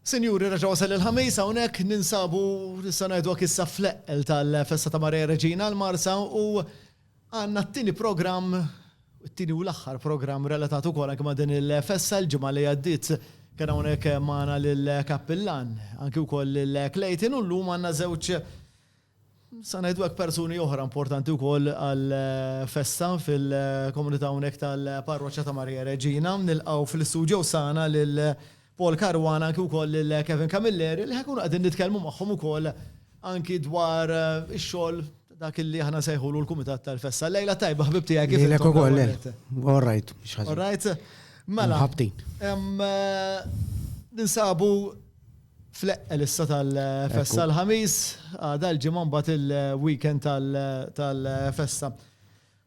Sinjuri, reġa' wasal il-Ħamis hawnhekk ninsabu nista' ngħidu hekk issa fl-eqqel tal-festa ta' Maria Reġina l-Marsa u għandna t-tieni programm it-tieni u l-aħħar programm relatat ukoll anke ma' din il-festa l-ġimgħa li għaddiet kien hawnhekk magħna lill-Kappillan anke wkoll lil Clayton u llum għandna żewġ Nista' ngħidu hekk persuni oħra importanti wkoll għal festa fil-komunità hawnhekk tal-Parroċċa ta' Marija Reġina. Nilqgħu fl-istudio sana lil Paul Caruana anki wkoll lil Kevin Camilleri li ħa nkunu qegħdin nitkellmu magħhom ukoll anki dwar ix-xogħol dak li aħna nsejħulu l-Kumitat tal-Festa. Lejla tajba ħbib tiegħek kif intom ukoll. All right, mhux ħażin. All right. Mela. Ħabtin. Ninsabu Fleqq l-issa tal-festa l-Ħamis, għada l-Ġimgħa mbagħad il-weekend tal-festa.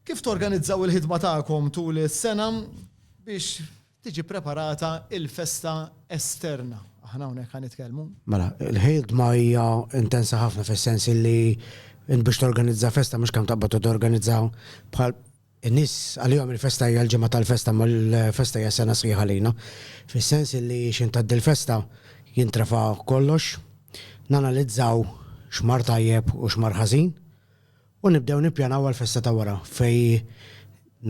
Kif torganizzaw il-ħidma tagħkom tul is-sena biex tiġi preparata l-festa esterna? Aħna hawnhekk ħa nitkellmu. Mela, il-ħidma hija intensa ħafna fis-sens li biex torganizza festa mhux kemm taqbad u torganizza bħal In-nies għalihom il-festa hija l-ġimgħa tal-festa imma l-festa hija sena sħiħa għalina, fis-sens illi x'ħin tgħaddi l-festa jintrafa kollox, nanalizzaw x'mar tajjeb u x'mar ħażin u nibdew nippjanaw għall-festa ta' wara fejn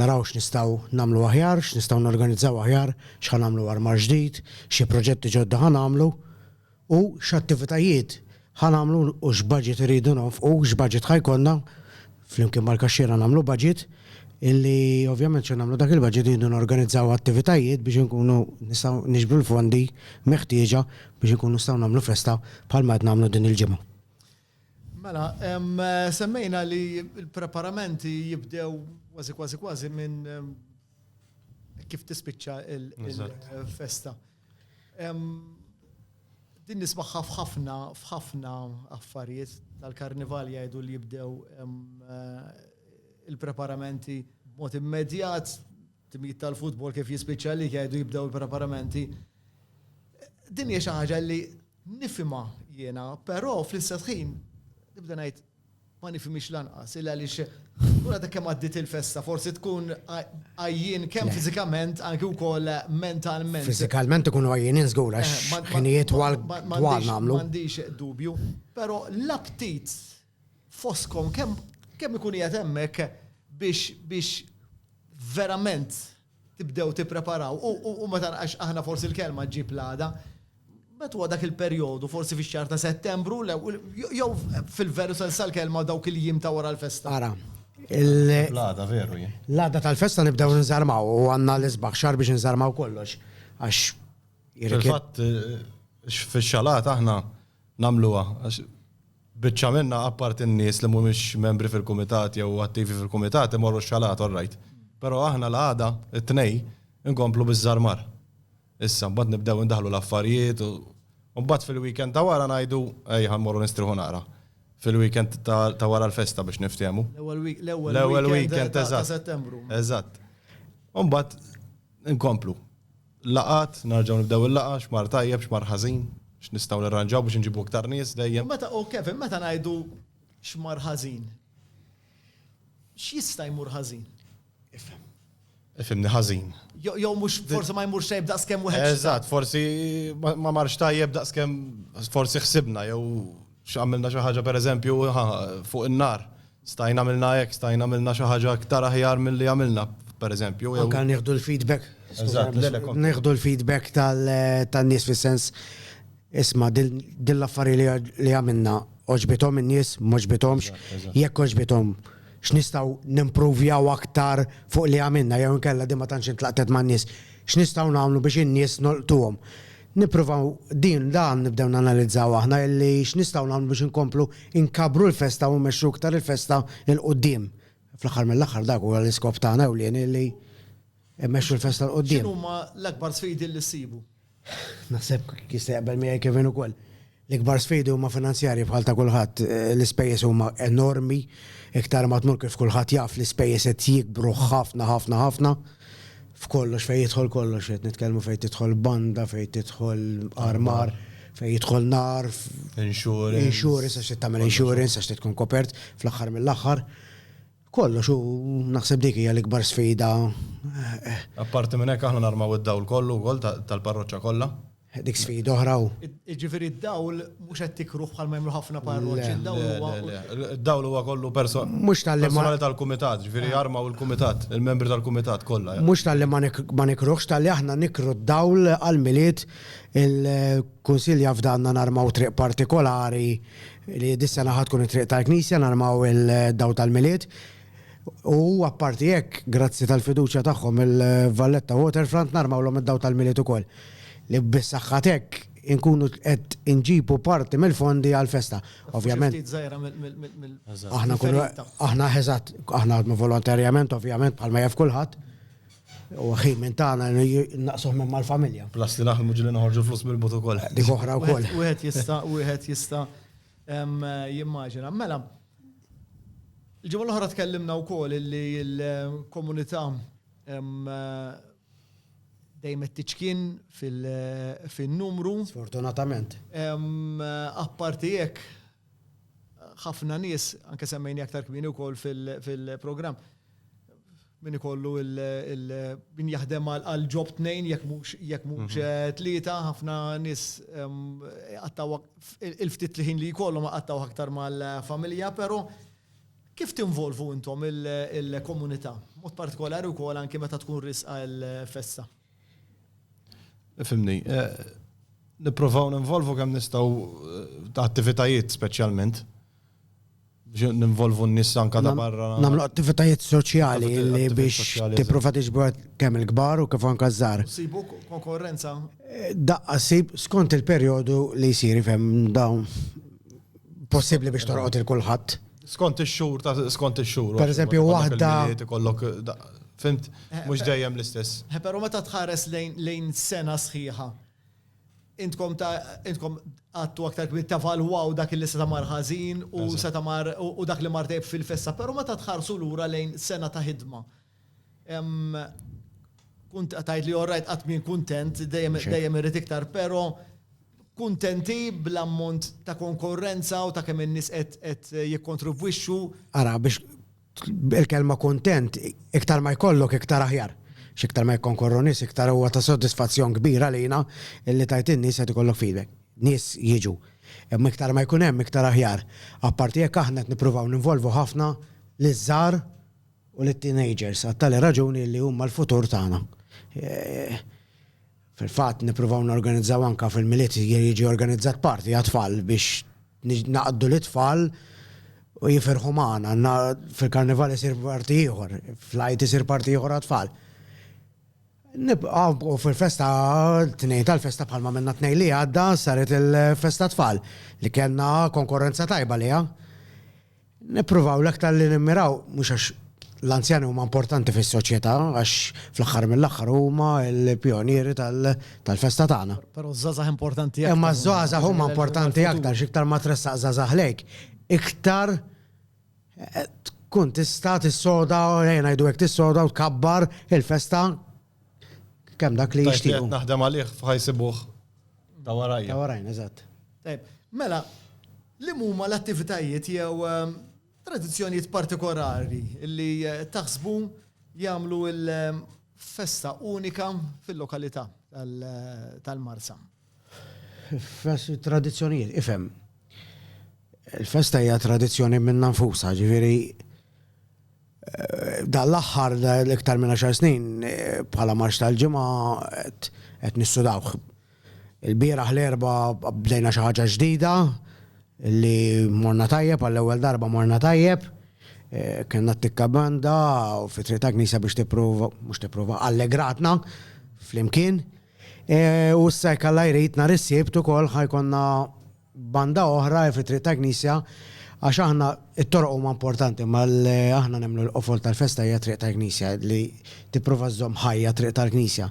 naraw x'nistgħu nagħmlu aħjar, x'nistgħu norganizzaw aħjar, x'ħa nagħmlu għarmar ġdid, xi proġetti ġodda ħa nagħmlu. u x'attivitajiet ħa nagħmlu u x'budget irridu nonfqu, x'budget ħa jkollna, flimkien mal-kaxxiera nagħmlu budget, illi ovvjament x'ħa nagħmlu dak il-budget irridu norganizzaw attivitajiet biex inkunu nistgħu niġbru l-fondi meħtieġa biex inkunu nistgħu nagħmlu festa bħalma qed nagħmlu din il-ġimgħa. Mela, semmejna li l-preparamenti jibdew kważi kważi kważi minn kif tispiċċa l-festa. Din nismagħha f'ħafna f'ħafna affarijiet tal-karnival jgħidu li jibdew il-preparamenti b'mod immedjat, timijiet tal-futbol kif jispiċċa li jgħidu jibdew il-preparamenti. Din hija xi ħaġa li nifhimha jiena, però fl-istess ħin nibda ngħid Ma nifhimhiex lanqas, illa għaliex u għadha kemm għaddiet il-festa, forsi tkun għajjien kemm fiżikament anki wkoll mentalment. Fiżikalment ikunu għajjinin żgur għax ħinijiet twal twal nagħmlu. M'għandix dubju, però l-aptit fostkom kemm kemm ikun qiegħed hemmhekk biex biex verament tibdew tippreparaw u ma tara għax aħna forsi l-kelma ġġib l-għada, meta huwa dak il-perjodu forsi fix-xahar ta' Settembru jew fil-veru sens tal-kelma dawk il-jiem ta' wara l-festa? Ara. L-għada veru jien. L-għada tal-festa nibdew inżarmaw u għandna l-isbaħ xahar biex inżarmaw kollox għax. Fil-fatt fix-xalata aħna nagħmluha għax biċċa minnha apparti n-nies li mhumiex membri fil-kumitat jew attivi fil-kumitat imorru x-xalati all right. Però aħna l-għada, it-Tnejn, inkomplu biż-żarmar. Issa, mbagħad nibdew indaħħlu l-affarijiet u u mbagħad fil-weekend ta' wara ngħidu ejja ħa mmorru nistrieħu naqra. Fil-weekend ta' ta' wara l-festa biex niftehmu. L-ewwel week l-ewwel L-ewwel weekend weekend ta' ta' eżatt. Settembru. Eżatt. U mbagħad inkomplu. Laqgħat, narġgħu nibdew il-laqgħa, x'mar tajjeb, x'mar ħażin, x'nistgħu nirranġaw biex inġibu iktar nies dejjem. U meta, u Kevin, meta ngħidu x'mar ħażin, x'jista' jmur ħażin? Ifhem. Ifhimni ħażin. Jo- Jew mhux forsi ma jmurx tajjeb daqskemm wieħed. Eżatt, forsi ma ma marx tajjeb daqskemm forsi ħsibna jew X'għamilna xi ħaġa pereżempju fuq in-nar, stajna għamilna hekk, stajna għamilna xi ħaġa iktar aħjar milli għamilna pereżempju. Anke nieħdu l-feedback. Nieħdu l-feedback tan-nies fis-sens, isma' din l-affarija li għamilna għoġbithom in-nies, m'għoġbithomx, jekk għoġbithom x'nistgħu nimpruvjaw aktar fuq li għamilna jew inkella din ma tantx intlaqtet man-nies, x'nistgħu nagħmlu biex in-nies nolqtuhom. Nippruvaw din, dan nibdew nanalizzaw aħna illi x'nistgħu nagħmlu biex inkomplu nkabbru l-festa u mmexxu iktar il-festa 'l quddiem. Fl-aħħar mill-aħħar dak huwa l-iskop tagħna ewlieni illi mmexxu l-festa 'l quddiem. X'inhuma l-akbar sfidi li ssibu? Naħseb jista' jaqbel miegħi Kevin ukoll. L-ikbar sfidi huma finanzjarji bħal ta' kulħadd. L-ispejjeż huma enormi. Iktar ma tmur kif kulħadd jaf l-ispejjeż qed jikbru ħafna ħafna ħafna. F'kollox, fejn jidħol kollox. Qed nitkellmu fejn tidħol banda, fejn tidħol armar, fejn jidħol nar. Insurance. Insurance, għax trid tagħmel insurance, għax trid tkun kopert fl-aħħar mill-aħħar. Kollox u naħseb dik hija l-ikbar sfida. Apparti minn hekk aħna narmaw id-dawl kollu wkoll tal-parroċċa kollha. Dik sfida oħra u. Ġifieri d-dawl mhux qed tikruh bħal ma jagħmlu ħafna parroċċi, d-dawl huwa. D-dawl huwa kollu person. Mhux tal-li ma. tal-kumitat, ġifieri arma u l-kumitat, il-membri tal-kumitat kollha. Mhux tal-li ma nikruhx, tal-li aħna nikru d-dawl għall-milied il-Kunsill jaf danna narmaw triq partikolari li dis-sena ħadd tkun it-triq tal-Knisja narmaw il-dawl tal-milied. U apparti hekk, grazzi tal-fiduċja tagħhom il-Valletta Waterfront narmawlhom id-dawl tal-Milied ukoll, li bis-saħħa t'hekk inkunu qed inġibu parti mill-fondi għall-festa. Ovvjament. Xi ftit żgħira mill-ferita. Aħna, eżatt, aħna naħdmu volontarjament, ovvjament, bħalma jaf kulħadd. U ħin minn tagħna naqsuh minn mal-familja. Plus li naħdmu ġieli noħorġu l-flus mill-but ukoll. Dik oħra wkoll. Wieħed jista' jimmaġina. Mela, Il-ġimgħa l-oħra tkellimna wkoll illi l-komunità dejjem qed tiċkien fin-numru. Sfortunatament. Apparti hekk, ħafna nies, anke semmejni aktar kmieni wkoll fil-programm, Min ikollu min jaħdem għal job tnejn jekk mhux jekk mhux tlieta, ħafna nies jqattgħu il-ftit ħin li jkollhom iqattgħuh aktar mal-familja, però kif tinvolvu intom il-komunità? B'mod partikolari wkoll anke meta tkun riesqa l-festa. Fimni, nipprovaw ninvolvu kemm nistgħu ta' attivitajiet speċjalment biex ninvolvu n-nies anka ta' barra. Nagħmlu attivitajiet soċjali li biex tipprova tiġbor kemm il-kbar u kif anka ż-żgħar. Sibu konkorrenza? Daqqa sib skont il-perjodu li jsir, ifhem, dawn possibbli biex tolqot il-kulħadd. Skont ix-xhur ta' skont ix-xhur. Per eżempju, waħda. Ikollok fimt eh, mhux eh, dejjem l-istess. Eh, però meta tħares lejn sena sħiħa, intkom ta' intkom għattu aktar kbir tavalwaw dak li se mar ħażin u se mar u dak li mar dejb fil-festa, però meta tħarsu lura lejn sena ta' ħidma Kont qed tgħid li all right qatt m'jien kuntent, dejjem irrid iktar, però kuntenti bl-ammont ta' konkorrenza u ta' kemm in-nies qed jikkontribwixxu? Ara, biex il-kelma kuntent iktar ma jkollok iktar aħjar. X'iktar ma jikkonkorru nies iktar huwa ta' sodisfazzjon kbir għalina li tgħid lin-nies qed ikollok f'idek. Nies jiġu. Imma iktar ma jkun hemm iktar aħjar. Apparti hekk aħna qed nippruvaw ninvolvu ħafna liż-żgħar u lit-teenagers għat-tali raġuni li huma l-futur tagħna. Fil-fatt nippruvaw norganizzaw anke fil-Milied jiġi organizzat party għat-tfal biex naqdu lit-tfal u jifirħu magħna. Fil-Karnival isir party ieħor, fl-Għid isir party ieħor għat-tfal. U fil-festa t-Tnejn tal-festa bħalma għamilna t-Tnejn li għadda saret il-festa tat-tfal li kellna konkurrenza tajba għaliha. Nippruvaw l-aktar li nimmiraw, mhux għax l-anzjani huma importanti fis-soċjetà għax fl-aħħar mill-aħħar huma l-pjonieri tal-festa tagħna. Però ż-żgħażagħ importanti aktar. Imma ż-żgħażagħ huma importanti aktar x'iktar ma tressaq żgħażagħ lejk. Iktar tkun tista' tissoda, ejja ngħidu hekk tissoda u tkabbar il-festa Kemm dak li jixtieq. Qed naħdem għalih f'ħajsibuh ta' warajja. Ta' warajna, eżatt. Tajb, mela, li huma l-attivitajiet jew ehm, tradizzjonijiet partikolari li eh, taħsbu jagħmlu l-festa unika fil-lokalità tal-Marsa? Tradizzjonijiet, ifhem. Il-festa hija tradizzjoni minna nfusha, ġifieri dan l-aħħar l-iktar minn għaxar snin bħala marx tal-ġimgħa qed nissudawh. Il-bieraħ l-erba' bdejna xi ħaġa ġdida li morna tajjeb għall-ewwel darba morna tajjeb. Kellna t-tikka banda fi Triq tal-Knisja biex tipprova, mhux tipprova, allegratna flimkien. U issa jekk Alla jrid nhar is-Sibt ukoll ħa jkollna banda oħra fit-Triq tal-Knisja għax aħna t-toroq huma importanti imma aħna nemmnu l-qofol tal-festa hija t-Triq tal-Knisja li tipprova żżomm ħajja t-Triq tal-Knisja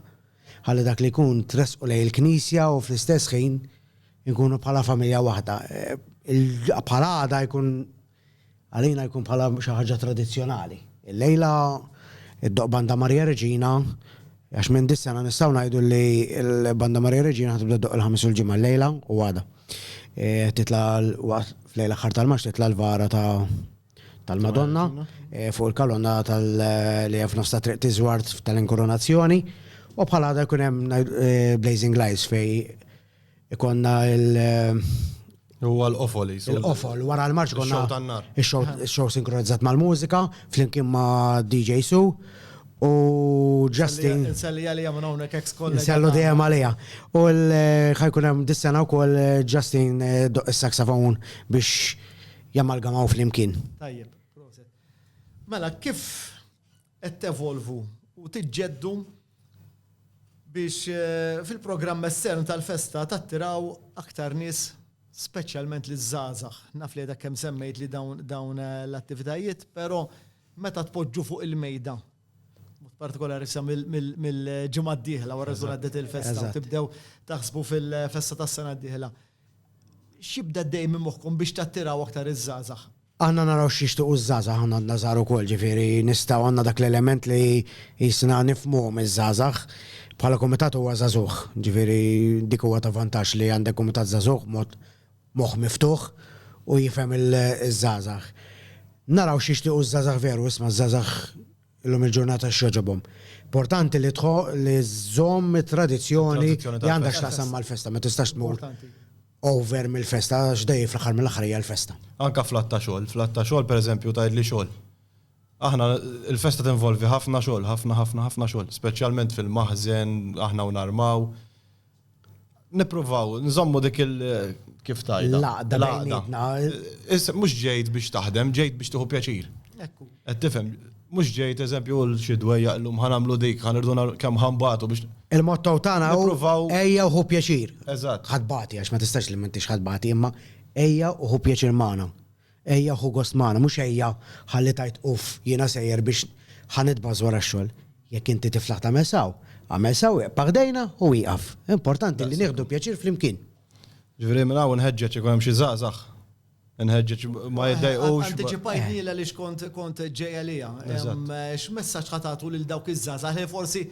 ħalli dak li jkun tressqu lejn il-Knisja u fl-istess ħin inkunu bħala familja waħda. Bħal għada jkun Għalina jkun bħala xi ħaġa tradizzjonali. Illejla ddoqq Banda Maria Reġina għax minn dis-sena nistgħu ngħidu li l-Banda Maria Reġina ħa tibda ddoqq il-Ħamis u l-Ġimgħa llejla u għada. Titla' waqt f'lejl aħħar tal-Marz titla' l-vara ta' tal-Madonna fuq il-kalonna li hemm f'nofs tat-Triq Tiżward tal-Inkurunazzjoni u bħal għada jkun hemm Blazing Lights fejn Ikonna il- Huwa l-qofol jisu. Il-qofol, wara l-marċ konna. Show tan-nar. Show sinkronizzat mal-mużika, flimkien ma' DJ Su. U Justin. Nselli għalija minn hawnhekk ex kollega. Nsellu dejjem għalija. U ħajkun hemm dis-sena wkoll Justin eh, doq is-saxafon biex jammalgamaw flimkien. Tajjeb, proset. Mela, kif qed tevolvu u tiġġeddu biex fil-programm estern tal-festa tattiraw aktar nies speċjalment liż-żgħażagħ. Naf li għadha kemm semmejt li dawn l-attivitajiet, però meta tpoġġu fuq il-mejda, b'mod partikolari sa mill-ġimgħa d-dieħla wara tkun għaddiet il-festa, tibdew taħsbu fil-festa tas-sena d-dieħla. X'jibda ddejjem minn moħħkom biex tattiraw aktar iż-żgħażagħ? Aħna naraw x'jixtiequ ż-żgħażagħ, aħna għandna żgħar ukoll, ġifieri nistgħu għandna dak l-element li qisna nifhmuhom iż-żgħażagħ. Bħala kumitat huwa żagħżugħ, ġifieri dik huwa ta' vantaġġ li għandek kumitat żagħżugħ mod moħħ miftuħ u jifhem iż-żgħażagħ. Naraw x'jixtiequ ż-żgħażagħ veru, isma' ż-żgħażagħ Illum il-ġurnata x'jogħġobhom. Importanti li li żżomm it-tradizzjoni li għandha x'taqsam mal-festa, ma tistax tmur over mill-festa għax dejjem fl-aħħar mill-aħħar hija l-festa. Anke fl-għadd ta' xogħol, fl-għadd ta' xogħol pereżempju tgħidli xogħol. Aħna l-festa tinvolvi ħafna xogħol, ħafna ħafna ħafna xogħol, speċjalment fil-maħżen, aħna u narmaw. Nipruvaw, nżommu dik il kif tajda. Laqda bejnietna. Mhux ġejt biex taħdem, ġejt biex tieħu pjaċir. Ekku. Qed tifhem, mhux ġejt eżempju l xi dwejja llum ħanamlu dik, ħanirdu kemm ħambatu biex. Il-motto tagħna hu ejja uħu pjaċir. Eżatt. Ħadbati għax ma tistax li m'intix ħadbati imma ejja uħu pjaċir magħna. Ejja ħu gost magħna, mhux ejja ħalli tgħid uff jiena sejjer biex ħa nitbagħas wara x-xogħol. Jekk inti tiflaħ tagħmel sew, agħmel sew, iqpa' ħdejna u wieqaf. Importanti li nieħdu pjaċir flimkien. Ġifieri minn hawn inħeġġeġ jekk hemm xi żgħażagħ, inħeġġeġ ma jiddejqux. Antiċipajtni għaliex kont ġej għaliha. X'messaġġ ħa tagħtu lil dawk iż-żgħażagħ li forsi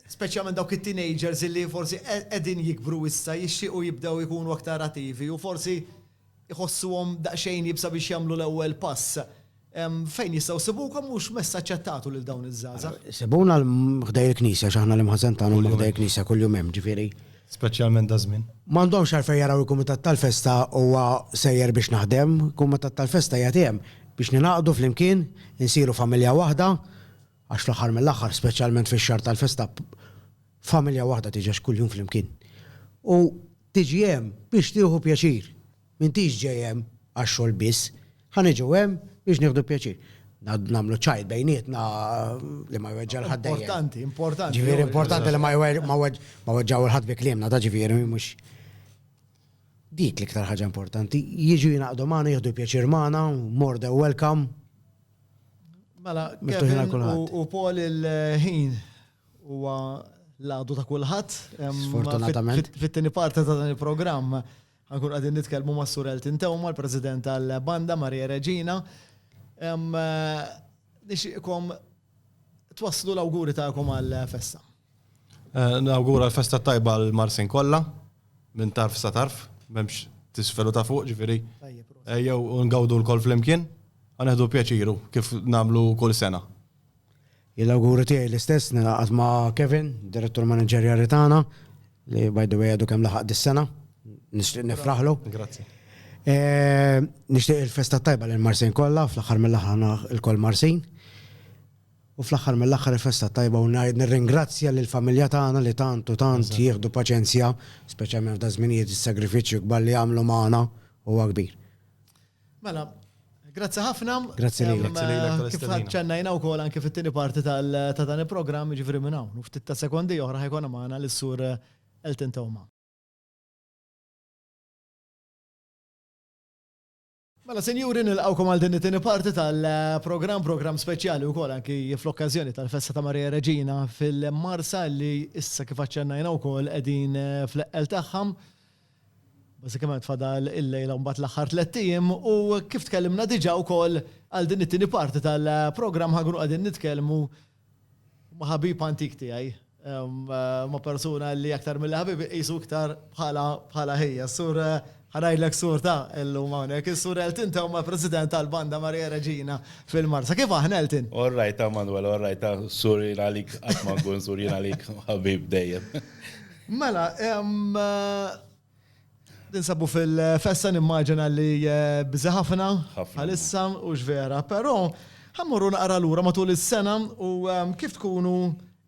speċjalment dawk it-teenagers illi forsi qegħdin jikbru issa jixtiequ jibdew ikunu aktar attivi u forsi jħossuhom daqsxejn iebsa biex jagħmlu l-ewwel pass. Fejn jistgħu jsibukom u x'messaġġ qed tagħtu lil dawn iż-żgħażagħ? Sibuna ħdej il-knisja x'aħna l-imħażen tagħna huma ħdej il-knisja kuljum hemm, ġifieri. Speċjalment daż-żmien. M'għandhomx għalfejn jaraw il-kumitat tal-festa huwa sejjer biex naħdem, il-kumitat tal-festa qiegħed hemm biex ningħaqdu flimkien, insiru familja waħda, Għax fl-aħħar mill-aħħar, speċjalment fix-xahar tal-festa, familja waħda tiġex kuljum flimkien. U tiġi hemm biex tieħu pjaċir. M'intix ġej hemm għax-xogħol biss. Ħa niġu hemm biex nieħdu pjaċir. Nagħmlu ċajt bejnietna li ma jweġġa' l-ħadd dejjem. Importanti, importanti. Ġifieri importanti li ma jweġġaw il-ħadd bi kliemna, da ġifieri mhux. Dik l-iktar ħaġa importanti. Jiġu jingħaqdu magħna, jieħdu pjaċir magħna, more than welcome. Mela, miftuħin għal kulħadd. U Paul il-ħin huwa l-għadu ta' kulħadd. Sfortunatament. Fit-tieni parti ta' dan il-programm ħankun qegħdin nitkellmu ma' Sur Elton Tewma, l-President tal-Banda Maria Regina. Nixtieqkom twasslu l-awguri tagħkom għall-festa. Nawgura l-festa t-tajba l-Marsin kollha, minn tarf sa tarf, m'hemmx t'isfel u ta' fuq, ġifieri ejjew u ngawdu lkoll flimkien, ħa neħdu pjaċiru kif nagħmlu kull sena. Jien l-awguri tiegħi l-istess, ningħaqad ma' Kevin, Direttur Maniġerjali tagħna, li by the way għadu kemm laħaq dis-sena, nixtieq nifraħlu. Grazzi. Nixtieq il-festa t-tajba lill-Marsin kollha, fl-aħħar mill-aħħar aħna lkoll Marsin. U fl-aħħar mill-aħħar il-festa t-tajba u ngħid nirringrazzja lill-familja tagħna li tant u tant jieħdu paċenzja, speċjalment f'da żminijiet is-sagrifiċċju kbar li jagħmlu magħna huwa kbir. Mela, grazzi ħafna. Grazzi lilek. Grazzi lilek tal-istedina. Kif ħadd ċennajna wkoll anke fit-tieni parti ta' dan il-programm jiġifieri minn hawn. U ftit ta' sekondi oħra ħajkun magħna lis-sur Elton Tewma. Mela sinjuri nilqgħukom għal din it-tieni parti tal-programm, programm speċjali wkoll anki fl-okkażjoni tal-festa ta' Marija Reġina fil-Marsa li issa kif aċċennajna wkoll qegħdin fl-eqqel tagħha. Bażikament fadal il-lejla mbagħad l-aħħar tliet ijiem u kif tkellimna diġà wkoll għal din it-tieni parti tal-programm ħa nkunu qegħdin nitkellmu Huma ħabib antik tiegħi. Huma persuna li aktar milli ħabib iqisu iktar bħala ħija. Sur ħa ngħidlek sur ta' illum hawnhekk. Is-Sur Elton ta' huma President tal-Banda Maria Regina fil-Marsa. Kif aħna Elton? All right ta' Manwel, all right ta' sur jien għalik qatt ma nkun sur jien għalik ħabib dejjem. Mela, Ninsabu fil-festa nimmaġina li eh, biżi ħafna bħalissa u x'vera, però ħammurru naqra lura matul is-sena u ehm, kif tkunu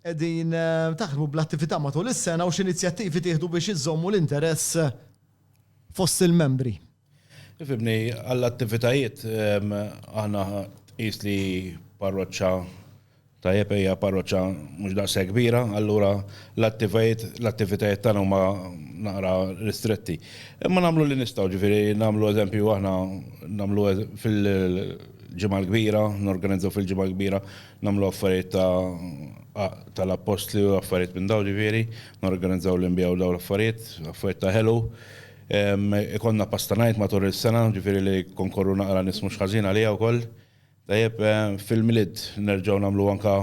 qegħdin eh, taħdmu bl-attività matul is-sena u x'inizjattivi tieħdu biex iżommu l-interess fost il-membri. Fimni, għall-attivitajiet aħna tqis li parroċċa tajjeb hija parroċċa mhux daqshekk kbira, allura l-attivitajiet tagħna huma naqra ristretti. Imma nagħmlu li nistgħu, ġifieri nagħmlu eżempju aħna nagħmlu fil-ġimgħa l-kbira, norganizzaw fil-ġimgħa l-kbira, nagħmlu affarijiet tal-appostli u affarijiet minn dawn ġifieri, norganizzaw l-inbijaw dawn l-affarijiet, affarijiet ta' ħelu. Ikollna pasta night matul is-sena, ġifieri li konkorru naqra nies mhux ħażin għaliha wkoll. Tajjeb, fil-Milied nerġgħu nagħmlu anke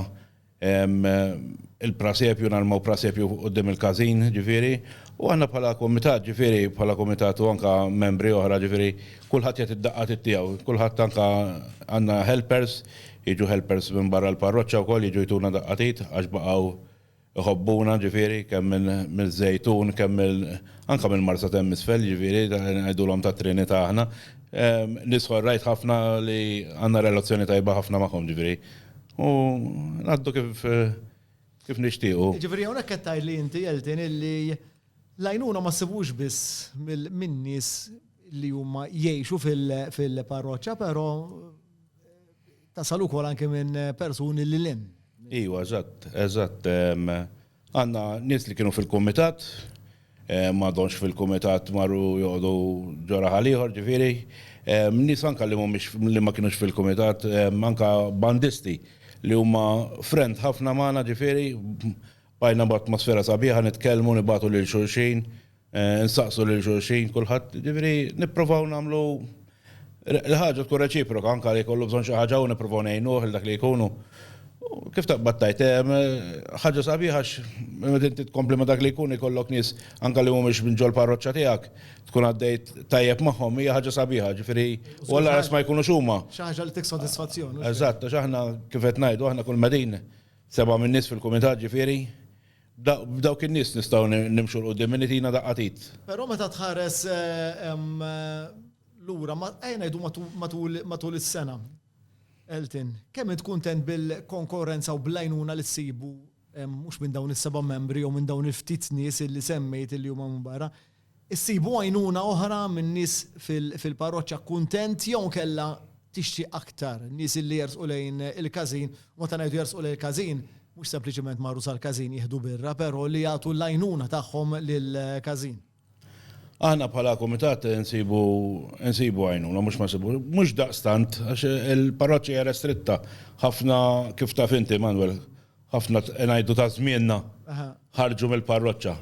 il-prasepju, narmaw prasepju quddiem il-każin, ġifieri. U aħna bħala kumitat, ġifieri bħala kumitat u anke membri oħra, ġifieri kulħadd jagħti d-daqqa tit-tiegħu. Kulħadd anke għandna helpers, jiġu helpers minn barra l-parroċċa wkoll jiġu jtuna daqqa t'id għax baqgħu Iħobbuna ġifieri kemm minn miż-Żejtun kemm mill anke mill-Marsa t'hemm isfel jiġifieri ngħidulhom tat-Trinità aħna. Nies ħorrajt ħafna li għandna relazzjoni tajba ħafna magħhom ġifieri u ngħaddu kif kif nixtiequ. Jiġifieri hawnhekk qed tgħid li inti Elton illi l-għajnuna ma ssibux biss mill min-nies li huma jgħixu fil fil-parroċċa però Tasal ukoll anke minn persuni lil hinn. Iwa, eżatt, eżatt. Għandna nies li kienu fil-kumitat, ma donx fil-kumitat marru joqogħdu ġora ħaliħor ġifieri. Nies anke li mhumiex li ma kienux fil-kumitat, anke bandisti li huma friend ħafna magħna ġifieri, bqajna b'atmosfera sabiħa nitkellmu nibagħtu lil xulxin. Insaqsu lil xulxin kulħadd, jiġifieri nipprovaw nagħmlu l-ħaġa tkun reċiproka anke jekk ikollu bżonn xi ħaġa u nipprovaw ngħinuh il dak li jkun. Kif taqbad tgħid, ħaġa sabiħa għax meta inti tkompli ma' dak li jkun ikollok nies anke li mhumiex minn ġol-parroċċa tiegħek tkun għaddejt tajjeb magħhom hija ħaġa sabiħa, jiġifieri u alla ras ma jkunux huma. Xi ħaġa li tik sodisfazzjon. Eżatt, għax aħna kif qed ngħidu aħna kull ma din seba' minn nies fil-kumitat ġifieri B'dawk in-nies nistgħu nimxu 'l quddiem, min itina daqqa t'id? Però meta tħares lura, ejja ngħidu matul is-sena, Elton, kemm int kuntent bil-konkorrenza u bl-għajnuna li ssibu mhux minn dawn is-seba' membri jew minn dawn il-ftit nies li semmejt li huma minn barra, Issibu għajnuna oħra minn nies fil-parroċċa kuntent jew inkella tixtieq aktar nies illi jersqu lejn il-każin u meta ngħidu jersqu lejn il-każin mhux sempliċement marru sal-każin jieħdu birra però li jagħtu l-għajnuna tagħhom lill-każin. Aħna bħala kumitat insibu insibu għajnuna mhux ma nsibu mhux daqstant għax il-parroċċa hija restritta ħafna kif taf inti Manwel ħafna ngħidu ta' żmienna ħarġu mill-parroċċa.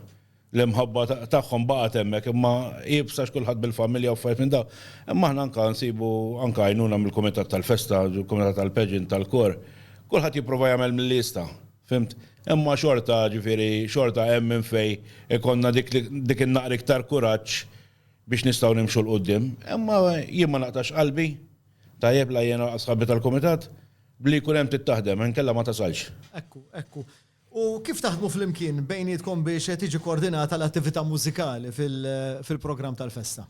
L-imħabba tagħhom baqgħet hemmhekk imma iebsa għax kulħadd bil-familja u affarijiet minn dawn. Imma aħna anke nsibu anke għajnuna mill-kumitat tal-festa, il-kumitat tal-pageant, tal-kor. Kulħadd jipprova jagħmel milli jista', fhimt? Imma xorta, ġifieri, xorta hemm minn fejn ikollna dik dik in-naqra iktar kuraġġ biex nistgħu nimxu 'l quddiem. Imma jien ma naqtax qalbi, tajjeb, la jiena laqas sħabi tal-kumitat, b'li jkun hemm trid taħdem, inkella ma tasalx. Ekku, ekku. U kif taħdmu flimkien bejnietkom biex tiġi koordinata l-attività mużikali fil-programm tal-festa?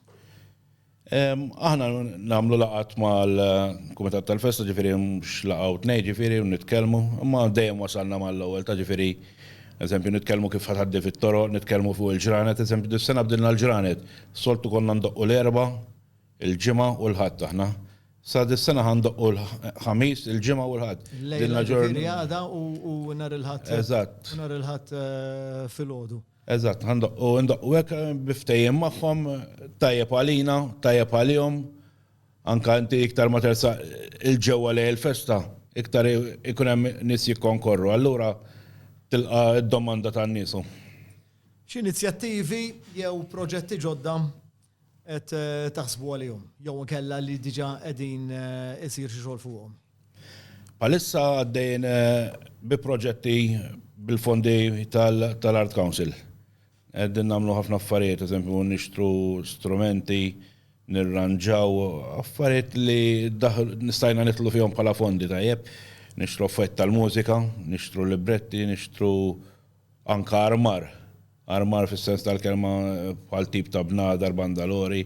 Aħna nagħmlu laqgħat mal-Kumitat tal-Festa, ġifieri mhux laqgħa u tnejn ġifieri u nitkellmu, imma dejjem wasalna mal-ewwel ta' ġifieri, eżempju, nitkellmu kif ħa tgħaddi fit-toroq, nitkellmu fuq il-ġranet, eżempju, dis-sena bdilna l-ġranet. Soltu konna ndoqqu l-Erbgħa, Il-Ġimgħa u l-Ħadd aħna. Sa dis-sena ħa ndoqqu l-Ħamis, il-Ġimgħa u l-Ħadd. Il-lejla ġifieri għada u nhar il-Ħadd. Eżatt. U nhar il-Ħadd filgħodu. Eżatt, ħa ndoqqu, ndoqqu hekk bi ftehim magħhom, tajjeb għalina, tajjeb għalihom. Anke inti iktar ma tersaq 'il ġewwa lejn il-festa, iktar ikun hemm nies jikkonkorru. Allura tilqa' d-domanda tan-nies. X'inizjattivi jew proġetti ġodda qed taħsbu għalihom jew inkella li diġà qegħdin isir xi xogħol fuqhom? Bħalissa għaddejjin bi proġetti bil-fondi tal-Art Council. Qegħdin nagħmlu ħafna affarijiet, eżempju nixtru strumenti, nirranġaw affarijiet li nistajna nidħlu fihom bħala fondi tajjeb, nixtru affarijiet tal-mużika, nixtru libretti, nixtru anke armar Armar fis-sens tal-kelma bħal tip ta' bnadar, bandalori.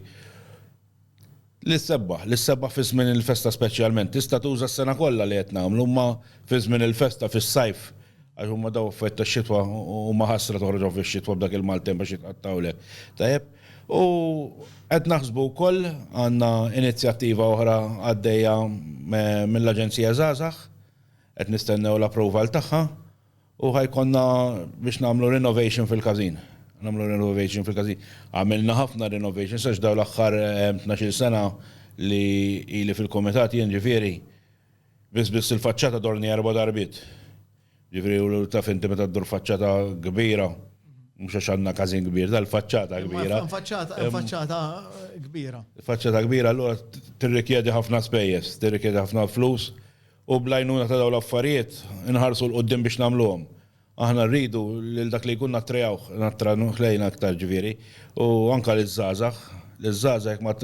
L-issebbaħ, l-issebbaħ fi żmien il-festa speċjalment, tista' tuża s-sena kollha li qed nagħmlu, imma fi żmien il-festa fis-sajf għax huma daw affarijiet tax-xitwa u huma ħasra toħroġhom fix-xitwa b'dak il-maltemp għax jitqattgħulek. Tajjeb? U qed naħsbu wkoll għandna inizjattiva oħra għaddejja mill-Aġenzija Żgħażagħ, qed nistennew l-approval tagħha, U ħa jkollna biex nagħmlu renovation fil-każin. Nagħmlu renovation fil-każin. Għamilna ħafna renovations għax dawn l-aħħar tnax-il sena li ili fil-kumitat jien ġifieri, biss biss il-faċċata dorni erba' darbiet. Ġifieri u taf inti meta ddur faċċata kbira, mhux għax għandna każin kbir, dal faċċata kbira. Faċċata kbira. Faċċata kbira allura tirrikjedi ħafna spejjeż, tirrikjedi ħafna flus U bl-għajnuna ta' dawn l-affarijiet inħarsu 'l quddiem biex nagħmluhom. Aħna rridu lil dak li jkun nattrajawh, nattranuh lejna iktar ġifieri, u anke liż-żgħażagħ. Liż-żgħażagħ jekk ma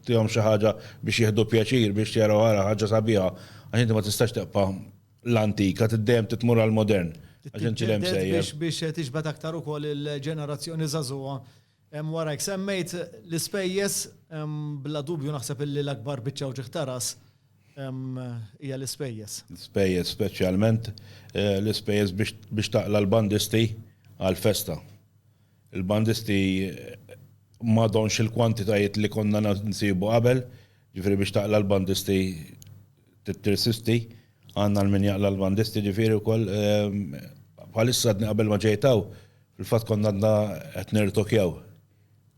tihomx xi ħaġa biex jieħdu pjaċir, biex jaraw ara ħaġa sabiħa, għax inti ma tistax teqpa' l-antik, għad dejjem trid tmur għall-modern, għax inti l-hemm sejjer. Biex tiġbed aktar ukoll il-ġenerazzjoni żagħżugħa Wara hekk semmejt l-ispejjeż, bla dubju naħseb illi l-akbar biċċa wġigħ ta' ras hija l-ispejjeż. L-ispejjeż, speċjalment l-ispejjeż biex taqla' l-bandisti għall-festa. Il-bandisti m'għadhomx il-kwantitajiet li konna nsibu qabel, jiġifieri biex taqla' l-bandisti trid tirsisti, għandna l-min jaqla' l-bandisti jiġifieri wkoll. Bħalissa għadni qabel ma ġejt hawn, Fil-fatt konna għadna qed nirtokjaw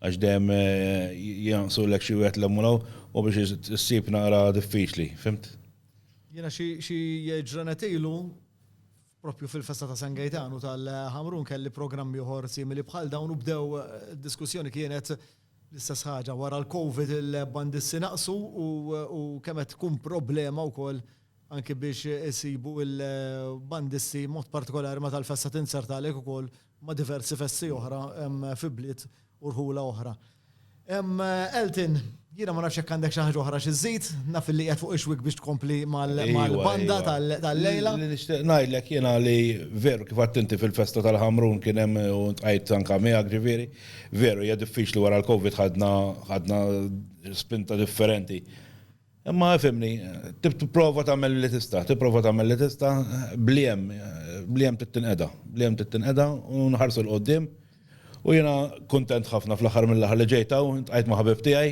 għax dejjem jgħanqsulek xi wieħed l-hemm u biex issib naqra diffiċli, fimt? Jiena xi ġranet ilu propju fil-festa ta' San Gejtanu tal-Ħamrun kelli programm ieħor simili bħal dawn u bdew diskussjoni kienet L-istess ħaġa wara l-Covid il-bandisti naqsu u kemm qed tkun problema wkoll anki biex isibu l-bandisti mod partikolari meta l-festa tinsert għalhekk ukoll ma' diversi festi oħra fi bliet u rħula oħra. Elton, jiena ma nafx jekk għandek xi ħaġa oħra xi żżid, naf li qiegħed fuq ix-xwiek biex tkompli mal-banda tal-lejla. Li nixtieq ngħidlek jiena li veru kif għedt inti fil-festa tal-Ħamrun kien hemm u ltqajt anke miegħek ġifieri, Veru, hija diffiċli wara l-Covid ħadna spinta differenti. Imma fimni, tipprova tagħmel li tista', tipprova tagħmel li tista' bliem, bliem tittinqeda, bliem tittinqeda u nħarsu l-qoddim. U jiena kuntent ħafna fl-aħħar mill-aħħar li ġejta u ntqajt ma' ħabib tiegħi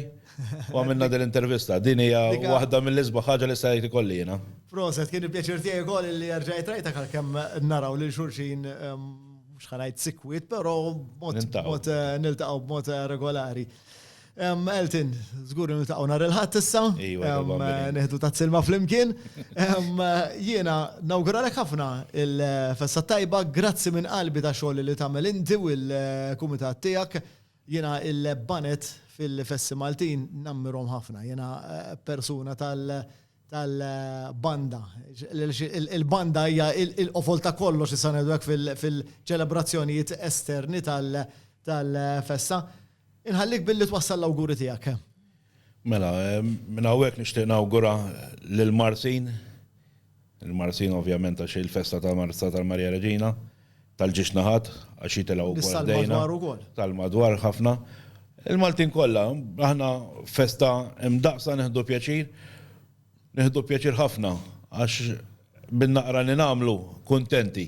u għamilna din l-intervista. Din hija waħda mill-isbaħ ħaġa li sajt ikolli jiena. Proset, kien il-pjaċir tiegħi wkoll li rġajt rajtek għalkemm naraw lil xulxin mhux ħanajt sikwit, però mod niltaqgħu b'mod eh, eh, regolari. Elton, żgur niltaqgħu nhar il-ħadd issa, eh, neħdu ta' silma flimkien. Jiena nawguralek ħafna il-festa tajba, grazzi minn qalbi ta' xogħol li tagħmel inti u l-kumitat tiegħek. Jiena il-banet fil-festi Maltin nammirhom ħafna. Jiena persuna tal- tal-banda. Il-banda hija il-qofol ta' kollox issa ngħidu hekk fil-ċelebrazzjonijiet esterni tal-festa. Inħallik billi twassal l-awguri tiegħek. Mela, minn hawnhekk nixtieq nawgura lil Marsin, il-Marsin ovvjament għax hi l-festa ta' Marsa tal-Marija Reġina, tal-ġiex naħat għax jitilgħu wkoll ħdejna. Tal-madwar ukoll. Tal-madwar ħafna. Il-Maltin kollha, aħna festa imdaqsa nieħdu pjaċir, nieħdu pjaċir ħafna għax bin-naqra li nagħmlu kuntenti.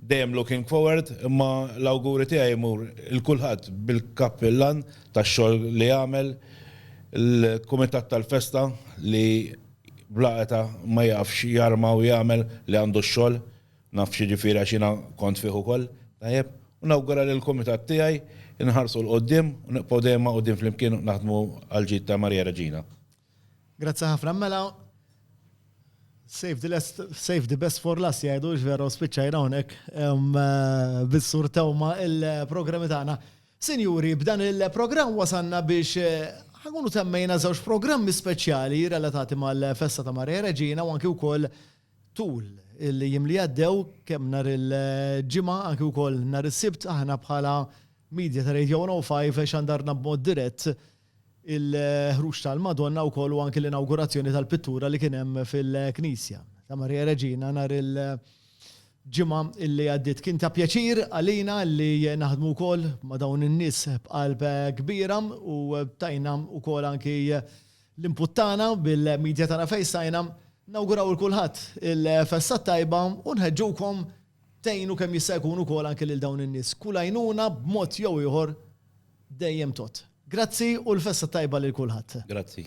Dejjem looking forward, imma l-awguri tiegħi jmur il kulħadd bil-kappillan tax-xogħol li għamel, il-kumitat tal-festa li bla età ma jafx jarma u jagħmel li għandu x-xogħol. Naf x'jiġifieri għax jiena kont fih ukoll, tajjeb? U nawgura lill-kumitat tiegħi nħarsu 'l quddiem u nibqgħu dejjem magħqudin flimkien u naħdmu għall-ġid ta' Marija Reġina. Grazzi ħafna, mela save the best for last jgħidu hux vera u spiċċajna hawnhekk bis-Sur Tewma il-programmi tagħna. Sinjuri, b'dan il-programm wasalna biex ħankunu temmejna żewġ programmi speċjali relatati mal-festa ta' Marija Reġina u anki wkoll Tul il-jiem li għaddew, kemm nhar il-Ġimgħa anki wkoll nhar is-Sibt, aħna bħala media ta' Radio 105 xandarna b'mod dirett il-ħruġ tal-Madonna wkoll u anki l-inawgurazzjoni tal-pittura li kien hemm fil-Knisja ta' Marija Reġina nhar il-Ġimgħa li għaddiet. Kien ta' pjaċir għalina li naħdmu wkoll ma' dawn in-nies b'qalb kbira u tajna wkoll anki L-input tagħna bil-media tagħna fejn stajna, nawguraw il kulħadd il-festa t-tajba u nħeġġukom tgħinu kemm jista' jkun ukoll anke lil dawn in-nies. Kull għajnuna b'mod jew ieħor dejjem tgħodd. Grazzi u l-festa t-tajba lil kulħadd. Grazzi.